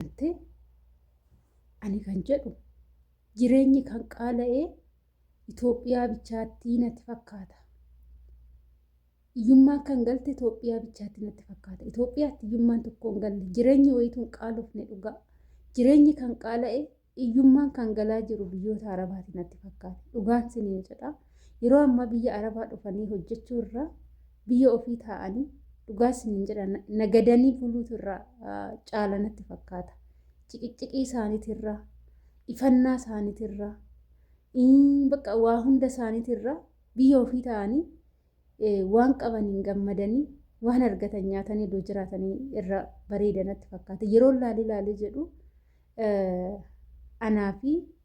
Gartee ani kan jedhu jireenyi kan qaala'ee Itoophiyaa bichaattii natti fakkaata. Iyyummaan kan galte Itoophiyaa bichaatti natti fakkaata. Itoophiyaatti iyyummaan tokko hin galle. Jireenyi wayituu hin qaalofne dhugaa. Jireenyi kan qaala'e iyyummaan kan galaa jiru biyyoota Arabaatti natti fakkaata. Dhugaan siniin jedha. Yeroo ammaa biyya Arabaa dhufanii hojjechuu irraa biyya ofii taa'anii dhugaa isiniin jedha nagadanii buluutu irraa caala natti fakkaata. Ciqicciqii isaaniitirraa, ifannaa isaaniitirraa, bakka waa hunda isaaniitirraa biyya ofii taa'anii waan qabaniin gammadanii waan argatan nyaatanii iddoo jiraatanii irra bareeda natti fakkaata. Yeroo laalii laalii jedhu anaa fi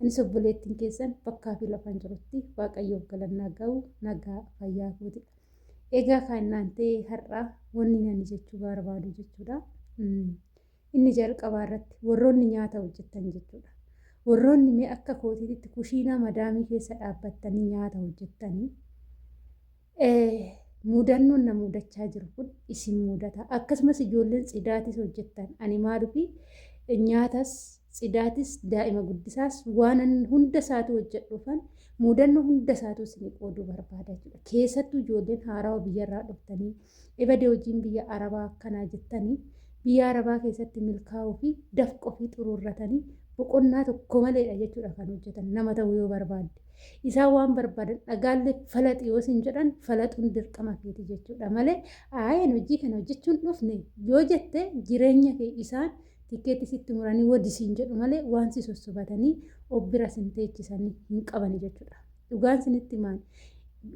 Anis obboleettiin keessan bakkaa fi lafaan jirutti waaqayyoof galannaa ga'u nagaa fayyaa kooti. Egaa kan naan ta'e har'a wanni nani jechuu barbaadu jechuudha. Hmm. Inni jalqabaa irratti warroonni nyaata hojjetan jechuudha. Warroonni mee akka kootiitti kushiinaa madaamii keessa dhaabbattanii nyaata hojjettanii mudannoon na mudachaa jiru kun isin mudata akkasumas ijoolleen tsidaatis hojjettan ani maalufi nyaatas tsidaatis daa'ima guddisaas waan hunda isaatu hojjedhuufan mudannoo hunda isaatu isin qooduu barbaada jechuudha keessattuu ijoolleen haarawa biyyarraa dhuftanii ibadee hojiin biyya arabaa akkanaa jettanii biyya arabaa keessatti milkaa'uu fi dafqoo fi xuruurratanii boqonnaa tokko maleedha jechuudha kan hojjetan nama ta'uu yoo barbaadde Isaan waan barbaadan dhagaallee falaxi yoo sin jedhan falaxuun dirqama keeti jechuudha malee aayeen hojii kana hojjechuun dhufne yoo jette jireenya kee isaan tikkeetti sitti muranii wadi siin jedhu malee waan si sossobatanii of bira sin teechisanii hin qabani jechuudha. Dhugaan sinitti maal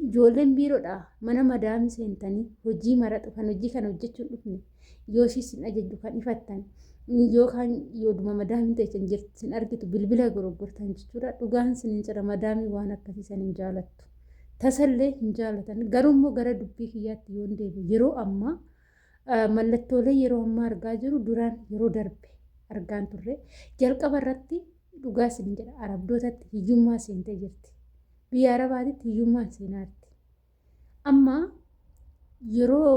ijoolleen biiroodha mana madaamii seentanii hojii maraxu kan hojii kana hojjechuun dhufne yoo ishii sin ajajju kan ifattan yookaan yooduma madaamiin teessan jirtu sin argitu bilbila goroggortan jechuudha dhugaan sin hin jira madaamii waan akkasii san hin jaalattu tasallee hin jaalatan garuu immoo gara dubbii kiyyaatti yoon deebi yeroo ammaa mallattoolee yeroo ammaa argaa jiru duraan yeroo darbe argaan turre jalqaba irratti dhugaa sin jedha arabdootatti hiyyummaa seentee jirti biyya arabaatitti hiyyummaan seenaatti Amma yeroo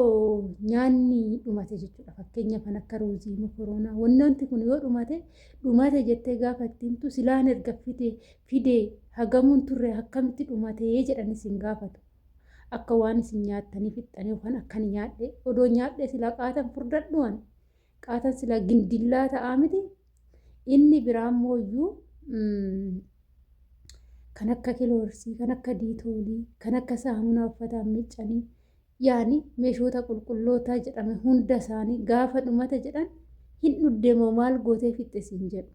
nyaanni dhumate jechuudha. Fakkeenyaaf kan akka ruuzii, mokoroonaa, wantoonni kun yoo dhumate dhumate jettee gaafa itti himtu silaan erga fide fidee hagamuun turre akkamitti dhumatee jedhan isin gaafatu. Akka waan isin nyaattanii fixxanii yookaan akkan nyaadhe odoo nyaadhe silaa qaatan furdadhuwan Qaatan silaa gindillaa ta'aa miti. Inni biraan mooyyuu kan akka kiloorsii, kan akka diitoolii, kan akka saamunaa uffataan miiccanii yaani meeshoota qulqullootaa jedhame hunda isaanii gaafa dhumata jedhan hin dhuddemoo maal gootee fixxisiin jedhu.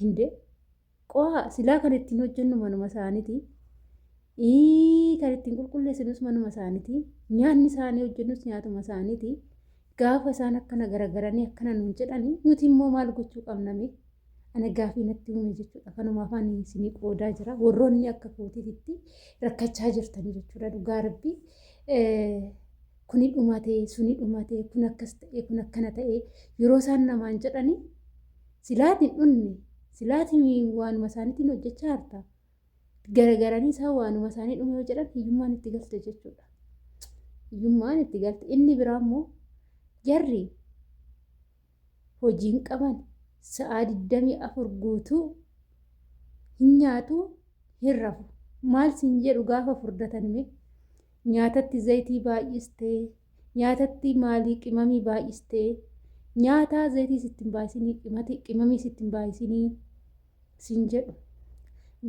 Hindee Qoha silaa kan ittiin hojjennu manuma isaaniti. Ii kan ittiin qulqulleessinus manuma isaaniti. Nyaanni isaanii hojjennus nyaatuma isaaniti. Gaafa isaan akkana garagaranii akkana nuun jedhani nuti immoo maal gochuu qabname? Ana gaafii natti uume jechuudha. Kanuma afaan isinii qoodaa jira. Warroonni akka kootiitti rakkachaa jirtanii jechuudha dhugaa rabbii. kuni dhumate, suni dhumate, kun akkas ta'e, kun akkana ta'e yeroo isaan namaan jedhani silaati hin dhunne, silaati waanuma isaaniitiin hojjechaa jirta. Garagaranii isaan waanuma isaanii dhume yoo jedhan hiyyummaan itti galte jechuudha. Hiyyummaan itti galte. Inni biraa immoo jarri hojii hin qaban sa'aa 24 guutuu hin nyaatu hin rafu maal sin jedhu gaafa furdatan mee nyaatatti zayitii baay'istee nyaatatti maalii qimamii baay'istee nyaataa zayitii sittin baay'isinii qimamii sittin baay'isinii sin jedhu.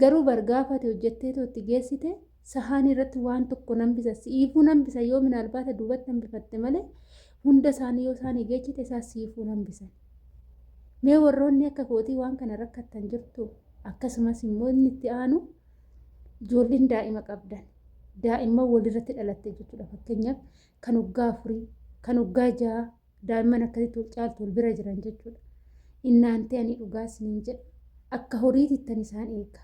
Garuu bar gaafa ati hojjetteetoo itti geessite sahaanii irratti waan tokko nan bisa siifuu nan bisa yoo minaalbaata duubatti hambifatte malee hunda isaanii yoo isaanii geechite isaa siifuu nan bisan. Mee warroonni akka kootii waan kana rakkattan jirtu akkasumas immoo inni itti aanu ijoolleen daa'ima qabdan daa'imman walirratti dhalatte jechuudha fakkeenyaaf kan waggaa afurii kan waggaa ja'a Daa'imman akkasitti wal caaltu wal bira jiran jechuudha. Innaantee ani dhugaa isiniin jedha. Akka horiitittan isaan eega.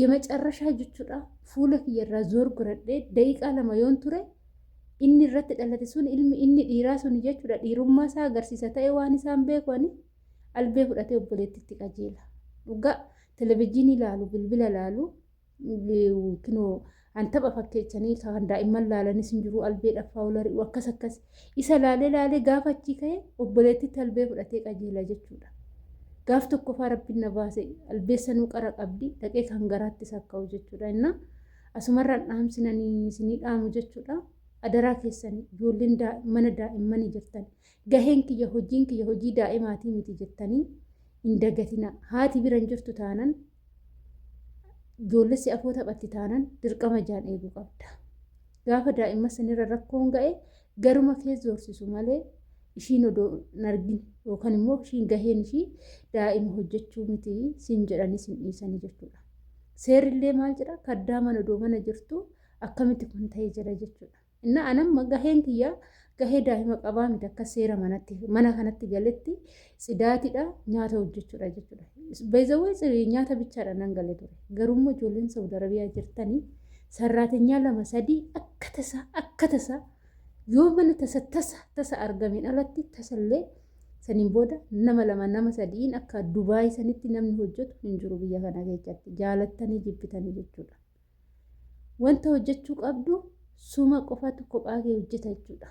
Yemacarrashaa jechuudha fuula kiyyarraa zoor godhadhee daqiiqaa lama yoon ture inni irratti dhalate sun ilmi inni dhiiraa sun jechuudha dhiirummaa isaa agarsiisa ta'e waan isaan beeku ani albee fudhatee obboleettitti qajeela. Dhugaa televizyiinii ilaalu bilbila ilaalu kinoo an tapha fakkeechanii kan daa'imman laalanis hin jiru albee dhaffaa olari'u akkas akkas isa laalee laalee gaafa achii ka'e obboleettitti albee fudhatee qajeela jechuudha. Gaaf tokkoffaa rabbiin na baase albeessa nuu qara qabdi dhaqee kan garaatti sakka'u jechuudha. Innaa asumarraan dhaamsinanii isinii dhaamu jechuudha. Adaraa keessan ijoolleen mana daa'immanii jirtan gaheen kiyya hojiin kiyya hojii daa'imaatii miti jettanii hin dagatina haati biran jirtu taanan ijoollessi afoo taphatti taanan dirqama jaan eeguu qabda. Gaafa daa'imma sanirra rakkoon ga'e garuma kee zoorsisu malee ishiin odoo hin argin yookaan immoo ishiin gaheen ishii daa'ima hojjechuu miti siin jedhanii siin dhiisanii jechuudha. Seerillee maal jedha kaddaa mana odoo mana jirtu akkamitti kun ta'ee jira jechuudha. Innaa an amma gaheen kiyya gahee daa'ima qabaa miti akka seera manatti mana kanatti galetti tsidaatidha nyaata hojjechuudha jechuudha. Beezawwee nyaata bichaadha nan gale ture. Garummoo ijoolleen Saudi Arabiyaa jirtanii sarraatenyaa lama sadii akka tasaa akka tasaa yoo mana tasa tasa tasa argameen alatti tasallee saniin booda nama lama nama sadiin akka Dubaay sanitti namni hojjetu hin jiru biyya kana keessatti jaalattanii jibbitanii jechuudha. Wanta hojjechuu qabdu suma qofatu kophaa kee hojjeta jechuudha.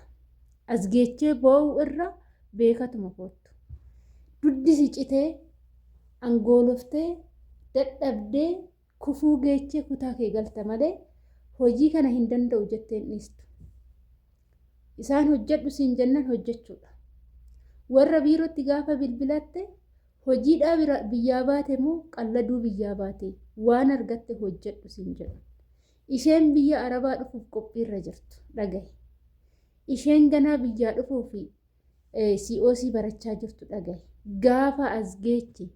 As geechee boo'u irra beekatuma koottu. Duddi si citee, angooloftee, dadhabdee, kufuu geechee kutaa kee galta malee hojii kana hin danda'u jettee hin dhiistu. Isaan hojjedhu siin jennan hojjechuudha. Warra biirootti gaafa bilbilatte Hojiidhaa bira biyyaa baate moo qalladuu biyyaa baate? Waan argatte hojjedhu siin jedhan. Isheen biyya Arabaa dhufuuf qophiirra jirtu dhagahi. Isheen ganaa biyyaa dhufuu fi COC barachaa jirtu dhagahi. Gaafa as geechi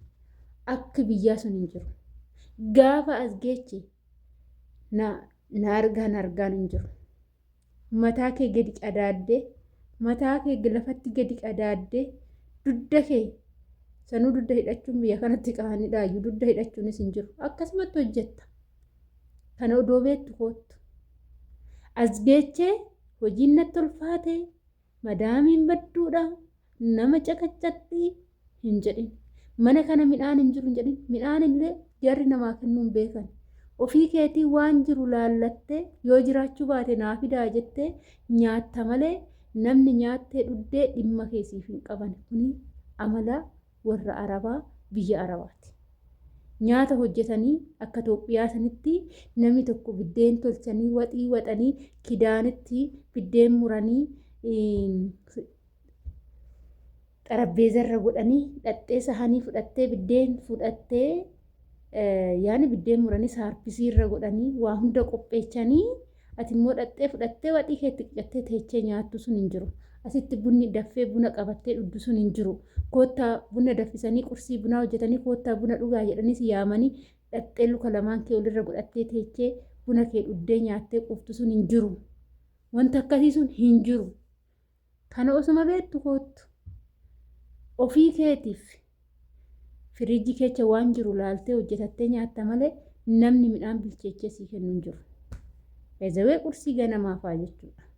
akki biyyaa sun hin jiru. Gaafa as geechi na argaan argaan hin jiru. mataa kee gadi qadaadde mataa kee lafatti gadi qadaadde dudda kee sanuu dudda hidhachuun biyya kanatti qaanidhaayyuu dudda hidhachuunis hin jiru akkasumatti hojjetta kana odoo beektu koottu as geechee hojiin natti ulfaatee Madaamiin badduudha nama caqaccaqxi hin jedhin. Mana kana midhaan hin jiru hin jedhin. Midhaan illee jarri namaa kennuu hin beekan. Ofii keetii waan jiru laallattee yoo jiraachuu baate naa fidaa jettee nyaatta malee namni nyaattee dhuddee dhimma keesiif hin qaban. Kuni amala warra arabaa biyya arabaati. Nyaata hojjetanii akka Itoophiyaa sanitti namni tokko biddeen tolchanii waxii waxanii kidaanitti biddeen muranii xarabbeezarra godhanii dhaxxee sahanii fudhattee biddeen fudhattee Yaani biddeen muranii saarpisii irra godhanii waa hunda qopheechanii ati immoo dhattee fudhattee waxii keetti qicattee teechee nyaattu sun hin jiru. Asitti bunni daffee buna qabattee dhugdu sun hin jiru. Koottaa buna daffisanii qursii bunaa hojjetanii koottaa buna dhugaa jedhanii si yaamanii dhattee luka lamaan kee olirra godhattee teechee buna kee dhugdee nyaattee quuftu sun hin jiru. Wanta akkasii sun hin jiru. Kana osuma beektu koottu ofii keetiif firiijii keecha waan jiru laaltee hojjetattee nyaatta malee namni midhaan bilcheechee sii kennu hin jiru. Ezawee qursii ganamaa fa'aa jechuudha.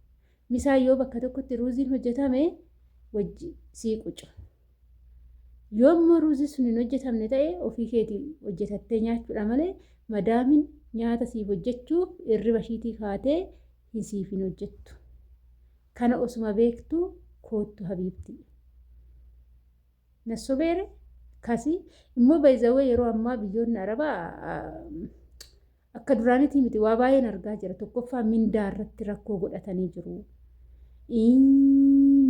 Misaa yoo bakka tokkotti ruuziin hojjetame wajji sii qucu. Yoo immoo ruuzii sun hin hojjetamne ta'e ofii keetii hojjetattee nyaachuudha malee madaamin nyaata siif hojjechuuf irriba ishiitii kaatee hin siif hin hojjettu. Kana osuma beektuu koottu habiibtii. Nassobeere kasi immoo by the way yeroo ammaa biyyoonni arabaa akka duraanitii miti waa baay'een argaa jira tokkoffaa mindaa irratti rakkoo godhatanii jiru.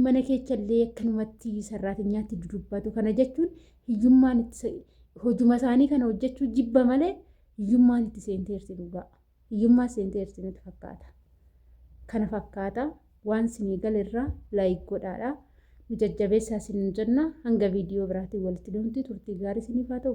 Mana keechallee akkanumatti sarraatinyaatti dudubbatu kana jechuun hiyyummaan hojuma isaanii kana hojjechuu jibba malee hiyyummaan itti seenteerti dhugaa. Hiyyummaa seenteerti natti fakkaata. Kana fakkaata waan sinii galerraa like godhaadha. Nu jajjabeessaa sinin jenna hanga viidiyoo biraatiin walitti deemti turtii gaarii siniif haa ta'u.